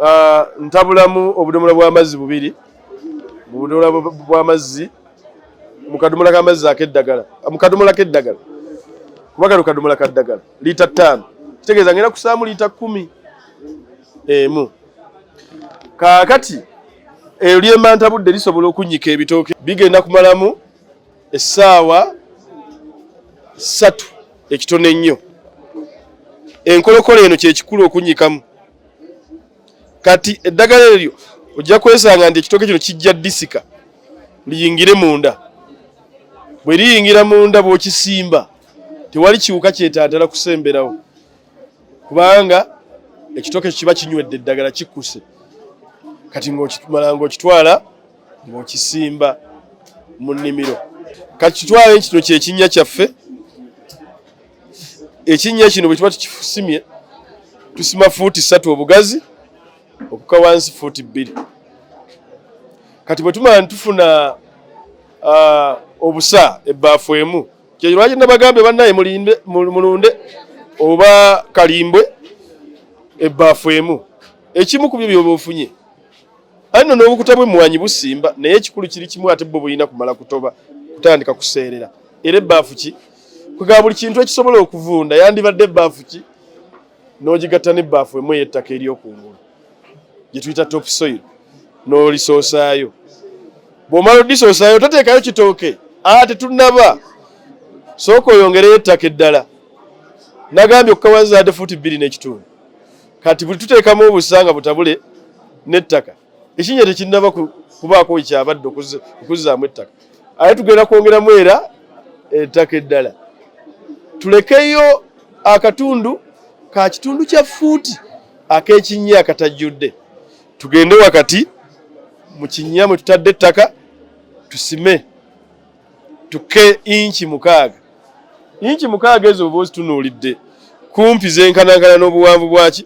Ah, ntabulamu obudomola bw'amazzi bubiri mu budomola bw'amazzi mu kadomola k'amazzi ak'eddagala ah, mu kadomola k'eddagala kuba kano kadomola ka ddagala liita ttaano kitegeeza ngenda kusaamu liita kkumi emu kaakati eyo lyemantabudde lisobola okunnyika ebitooke bigenda kumalamu essaawa ssatu ekitono ennyo enkolokola eno kyekikulu okunyikamu kati eddagala eryo ojja kwesanga nti ekitooke kino kijja disika liyingire munda bwe liyingira munda bw'okisimba tewali kiwuka kyetantala kusemberawo kubanga ekitoke kiba kinywedde eddagala kikkuse kati ng'okimala ng'okitwala ng'okisimba mu nnimiro kati kitwale kino kyekinnya kyaffe ekinnya kino bwe tuba tukisimye tusima fuuti ssatu obugazi okuka wansi fuuti bbiri kati bwe tumala ne tufuna ah, obusa ebbaafu emu Kyekyo lwaki nabagambye bannaye mulunde oba kalimbwe ebbaafu emu ekimu ku byo byoba ofunye anno n'obukuta bw'emmwanyi busimba naye ekikulu kiri kimu ate bwo bulina kumala kutoba kutandika kuseerera era ebbaafu ki kwega buli kintu ekisobola okuvunda yandibadde ebbaafu ki n'ogigatta n'ebbaafu emu ey'ettaka eryokungulu gye tuyita top soil n'olisoosaayo bw'omala odisoosaayo toteekayo kitooke aa ah, tetunaba sooka oyongereyo ettaka eddala nagambye okukawazaade fuuti bbiri n'ekitundu kati buli tuteekamu obusa nga butabule n'ettaka ekinnya tekinnaba kubaako wekyabadde okuzzaamu ettaka ate tugenda kwongeramu era ettaka eddala tulekeyo akatundu ka kitundu kya fuuti ak'ekinnya akatajjudde tugende wakati mu kinnya mwe tutadde ettaka tusime tuke inki mukaaga inki mukaaga ezo oba ozitunuulidde kumpi zenkanankana n'obuwanvu bwaki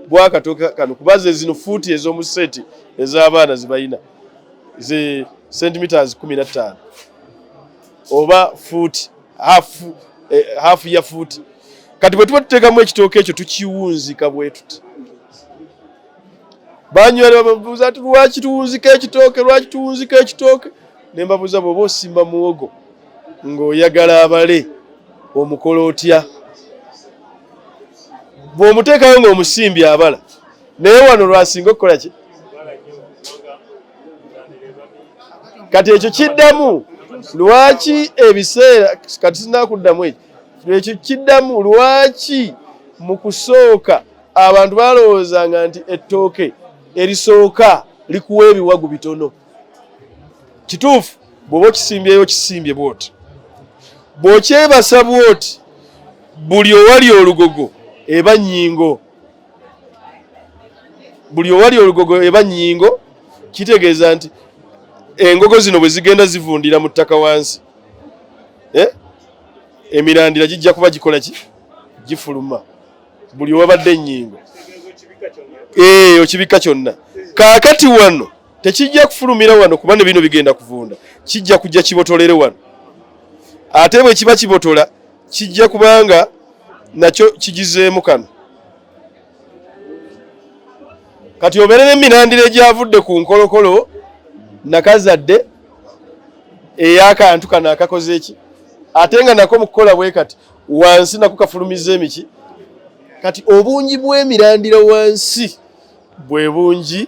bwakato kano kuba ze zino fuuti ez'omu seti ez'abaana zebalina ze centimeters kumi na ttaano oba fuuti hafu eh, hafu ya fuuti kati bwe tuba tuteekamu ekitooke ekyo tukiwunzika bwe tuti banywera babuuza ti lwaki tuwunzika ekitooke lwaki tuwunzika ekitooke ne mbabuuza bw'oba osimba muwogo ng'oyagala abale omukola otya bw'omuteekayo ng'omusimbi abala naye wano lwasinga okukola ki kati ekyo kiddamu lwaki ebiseera kati sinakuddamu ekyo ekyo kiddamu lwaki mu kusooka abantu balowoozanga nti ettooke erisooka likuwa ebiwagu bitono kituufu bwoba okisimbyeyo okisimbye bwoti bwokyebasa bwoti buli owali olugogo eba nyingo buli owali olugogo eba nyingo kitegeeza nti engogo zino bwe zigenda zivundira mu ttaka wansi eh? emirandira gijja kuba gikola ki gifuluma buli owabadde enyingo eh, okibikka kyonna kaakati wano tekijja kufulumira wano kuba ne bino bigenda kuvunda kijja kujja kibotolere wano ate bwe kiba kibotola kijja kubanga nakyo kigizeemu kano kati obeere n'emirandira egyavudde ku nkolokolo nakazadde ey'akantu kano akakoze eki ate nga nako mu kukola bwe kati wansi nako kafulumiza emiki kati obungi bw'emirandira wansi bwe bungi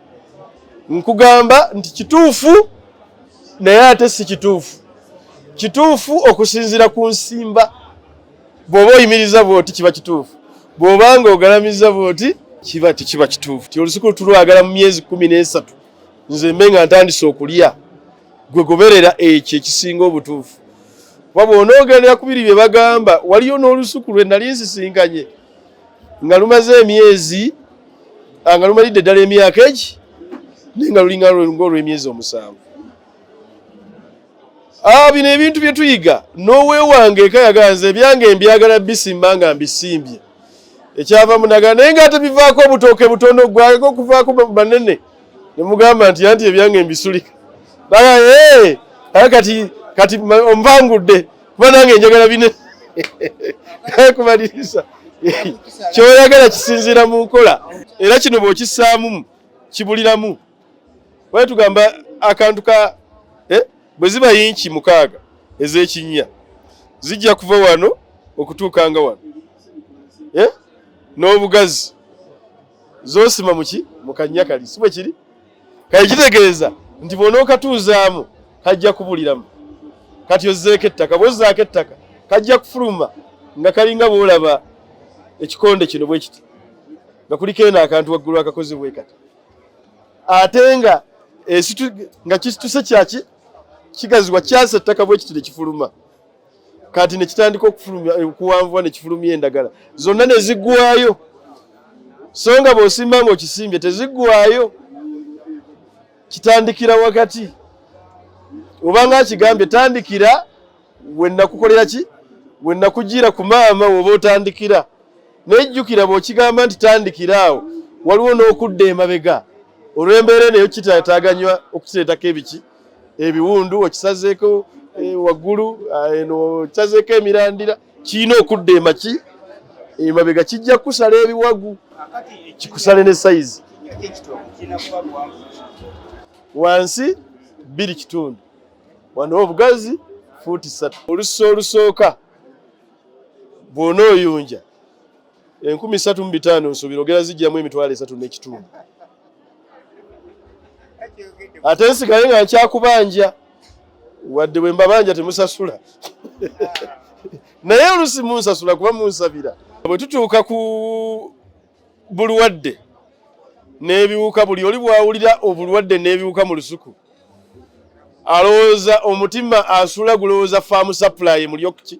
nkugamba nti kituufu naye ate si kituufu kituufu okusinziira ku nsimba bw'oba oyimiriza bwoti kiba kituufu bw'oba nga ogalamiza bwoti kiba tekiba kituufu ti olusuku lutulwagala mu myezi kumi n'esatu nze mbe nga ntandise okulya gwe goberera ekyo ekisinga obutuufu kuba bw'onoogendera ku biri bye bagamba waliyo n'olusuku lwe nali nsisinkanye nga lumaze emyezi ah, nga lumalidde ddala emyaka egi naye nga lulinga ng'olw'emyezi omusanvu ah, bino ebintu bye tuyiga n'owewange eka yaganze ebyange mbyagala bisimba nga mbisimbye ekyava munaga naye nga ate bivaako obutooke butono gwako okuvaako banene ne mugamba nti anti ebyange mbisulika naye kati kati omvangudde kuba nange njagala bine kumaliriza kyoyagala kisinziira mu nkola era kino bw'okissaamu kibuliramu wali tugamba akantu ka eh, bwe ziba yinki mukaaga ez'ekinnya zijja kuva wano okutuuka nga wano eh, n'obugazi zosima muki mu kannya kali si bwe kiri kale kitegeeza nti bwonookatuuzaamu kajja kubuliramu kati ozzeeko ettaka bwozzaako ettaka kajja kufuluma nga kalinga bwolaba ekikonde kino bwe kiti nga kuliko eno akantu waggulu akakoze bwe kati ate nga nga kituse kyaki kigazibwa kyasa ettaka bwe kiti ne kifuluma kati nekitandika okuwanvuwa nekifulumya endagala zonna nezigwayo so nga bwosimba nga okisimbye tezigwayo kitandikira wakati obanga akigambye tandikira wenakukolera ki wenakujiira ku maama woba otandikira naye jjukira bwokigamba nti tandikira awo waliwo n'okudda emabega olw'embeera eneyo kitataganywa okukireetako ebiki ebiwundu okisazeeko eh, waggulu eh, eno okisazeeko emirandira kirina okudda emaki emabega kijja kukusala ebiwagu kikusale ne sayizi wansi bbiri kitundu wano obugazi fuuti ssatu olusi olusooka bwona oyunja enkumi satu mu bitaano nsuubira ogera zijjamu emitwalo esatu n'ekitundu ate nsigale nga nkyakubanja wadde bwe mbabanja temusasula naye olusi munsasula kuba munsabira bwe tutuuka ku bulwadde n'ebiwuka buli oli bwawulira obulwadde n'ebiwuka mu lusuku alowooza omutima asula gulowooza faamu sapulayi mulyokuki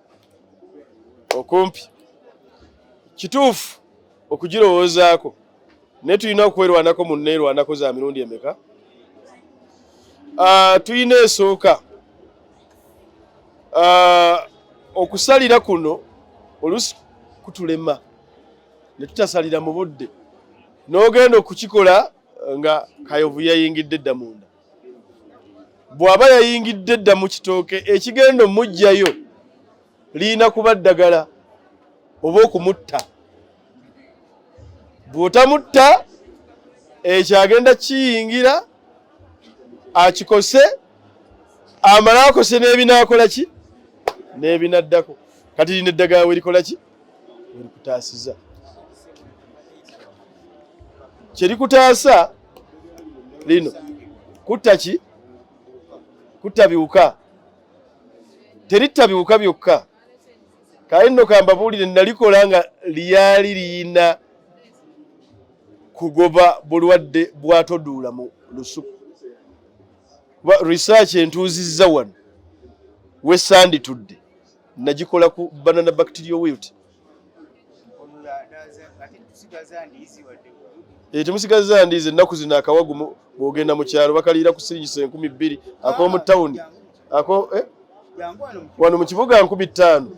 okumpi kituufu okugirowoozaako naye tulina okwerwanako mu neerwanako za mirundi emeka ah, tulina esooka ah, okusalira kuno olusi kutulema ne tutasalira mu budde n'ogenda okukikola nga kayovu yayingidde dda munda bw'aba yayingidde dda mu kitooke ekigenda omuggyayo lirina kuba ddagala oba okumutta bw'otamutta ekyo agenda kiyingira akikose amale akose n'ebinaakola ki n'ebinaddako kati lino eddagala werikola ki werikutaasiza kyerikutaasa lino kutta ki kutta biwuka teritta biwuka byokka kaye nno kambabuulire nalikola nga lyali liyina kugoba bulwadde bwatoduula mu lusuku research entuuzizza wano wesanditudde nagikola ku banana bacterial wilt eh, temusigaza ndiizi ennaku zino akawagu bwogenda mu kyalo bakaliira ku siringisa enkumi bbiri ak'omu tawuni eh? wano mu kibuga nkumi ttaano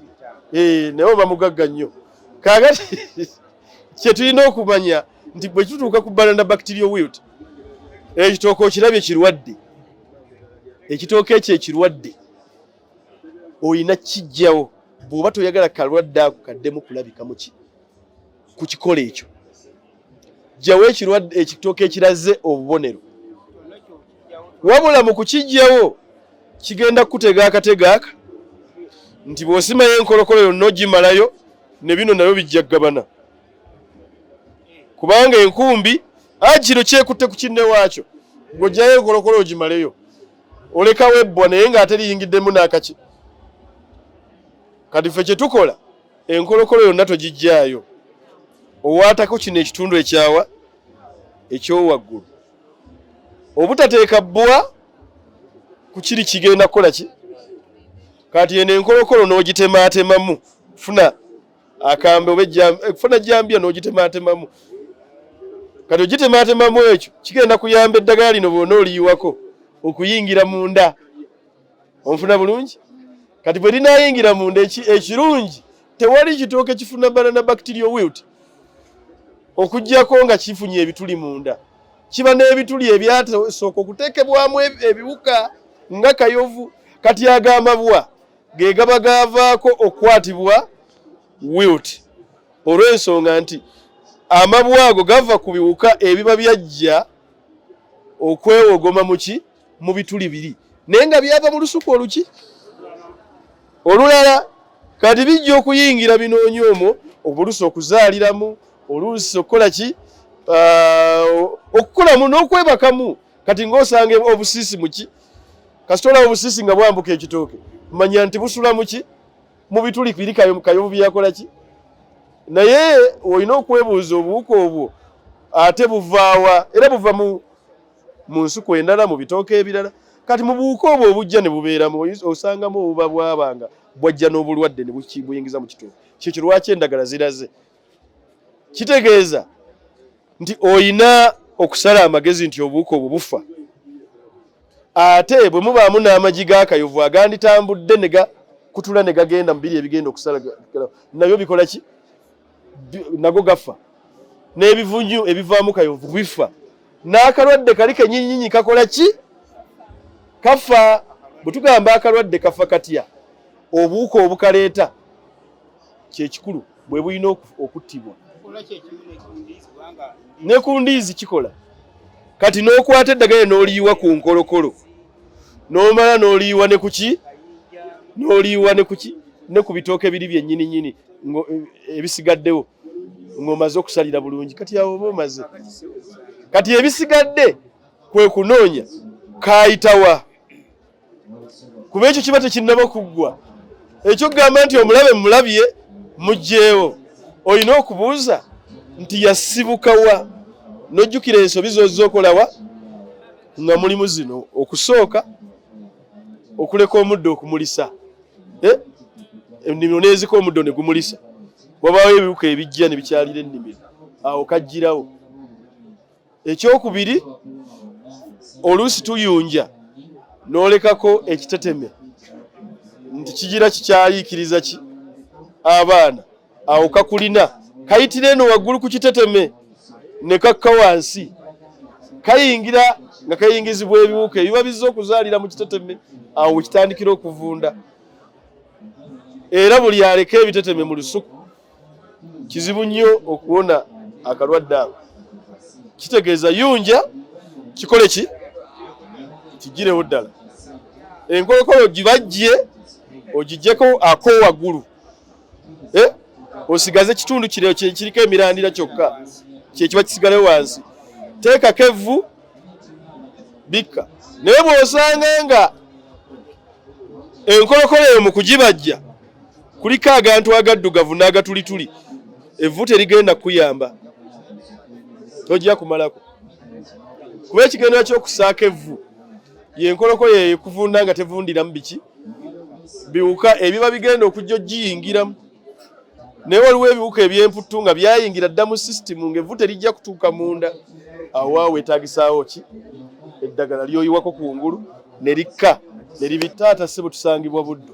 eh, naye oba mugagga nnyo kaagati kye tulina okumanya nti bwe kituuka ku banana bacterial wilt ekitooke okirabye kirwadde ekitooke ekyo ekirwadde olina kijjawo bw'oba toyagala kalwadde ako kaddemu kulabika muki ku kikolo ekyo jjawo ekirwadde ekitooka ekiraze obubonero wabula mu kukijjawo kigenda kukutega akatega aka nti bw'osimayo enkolokolo yonna ogimalayo ne bino nabyo bijja kugabana kubanga enkumbi akino kyekutte ku kinne waakyo ng'oggyayo enkolokolo ogimaleyo olekawo ebbwa naye ng'ate liyingiddemu n'akaki kati ffe kye tukola enkolokolo yonna togijjaayo owaatako kino ekitundu ekyawa ekyowaggulu obutateeka bbwa ku kiri kigenda kukola ki kati eno enkolokolo n'ogitemaatemamu funa akambe oba ekufuna eh, jambiya n'ogitemaatemamu kati ogitemaatemamu ekyo kigenda kuyamba eddagala lino bwona oliyiwako okuyingira munda onfuna bulungi kati bwe linayingira munda ekirungi tewali kitooke kifuna bala na bacteria wilt okugyako nga kifunye ebituli munda kiba n'ebituli ebyasooka okuteekebwamu ebiwuka nga kayovu kati agamba bwa ge gaba gaavaako okukwatibwa wilt olw'ensonga nti amabwa ago gava ku biwuka ebiba byajja okwewogoma muki mu bituli biri naye nga byava mu lusuku oluki olulala kati bijja okuyingira binoonya omwo obulusi okuzaaliramu oluusi okukola ki ah, okukolamu n'okwebakamu kati ng'osanga obusiisi muki kasita olaba obusiisi nga bwambuka ekitooke manya nti busula muki mu bituli biri kayovu byeyakola ki naye olina okwebuuza obuwuka obwo ate buvaawa era buva mu mu nsuku endala mu bitooke ebirala kati mu buwuka obwo obujja ne bubeeramu osangamu obuba bwabanga bwajja n'obulwadde ne buyingiza mu kitooke kyekyo lwaki endagala ziraze kitegeeza nti oyina okusala amagezi nti obuwuka obwo bufa ate bwe mubaamu n'amagi g'akayovu aganditambudde ne gakutula ne gagenda mu biri ebigenda okusala nabyo bikola ki nago gafa n'ebivunyu ebivaamu kayovu bifa n'akalwadde kali kenyinyinyi kakola ki kafa bwe tugamba akalwadde kafa katya obuwuka obukaleeta kyekikulu bwebulina okuttibwa ne ku ndiizi kikola kati n'okwata eddagala n'oliyiwa ku nkolokolo n'omala n'oliyiwa ne kuki n'oliyiwa ne kuki ne ku bitooke biri byennyini nyini e, ebisigaddewo ng'omaze okusalira bulungi kati awo oba omaze kati ebisigadde kwe kunoonya kaayitawa kuba ekyo kiba tekinnaba kuggwa ekyokugamba nti omulabe mulabye mugyewo olina okubuuza nti yasibuka wa nojjukira ensobi zozza okolawa nga mulimu zino okusooka okuleka omuddo okumulisa eh? ennimiro nezika omuddo ne gumulisa wabaawo ebiwuka ebijja ne bikyalira ennimiro awo kajjirawo ekyokubiri oluusi tuyunja n'olekako ekiteteme nti kigira kikyayiikiriza ki abaana awo kakulina kayitira eno waggulu ku kiteteme ne kakka wansi kayingira nga kayingizibwa ebiwuka ebiba bizza okuzaalira mu kiteteme awo wekitandikira okuvunda era buli aleka ebiteteme mu lusuku kizibu nnyo okuwona akalwadde ako kitegeeza yunja kikole ki kigirewo ddala enkolokolo ogibajje ogijeko ako waggulu eh? osigaze ekitundu kire kiriko emirandira kyokka kyekiba kisigale wansi teekako evvu bikka naye bw'osanga nga enkolokolo eyo mu kugibajja kuliko agantu agaddugavu n'agatulituli evvu terigenda kuyamba tojja kumalako kuba ekigendera ky'okusaako evvu yenkoloko yeyo ekuvunda nga tevundiramu biki biwuka ebiba bigenda okujja ogiyingiramu naye waliwo ebiwuka ebyemputtu nga byayingira dda mu sisitimu ngaevvu terijja kutuuka munda awa wetagisaawo ki eddagala lyoyiwako ku ngulu ne likka ne libittaata si butusangibwa buddu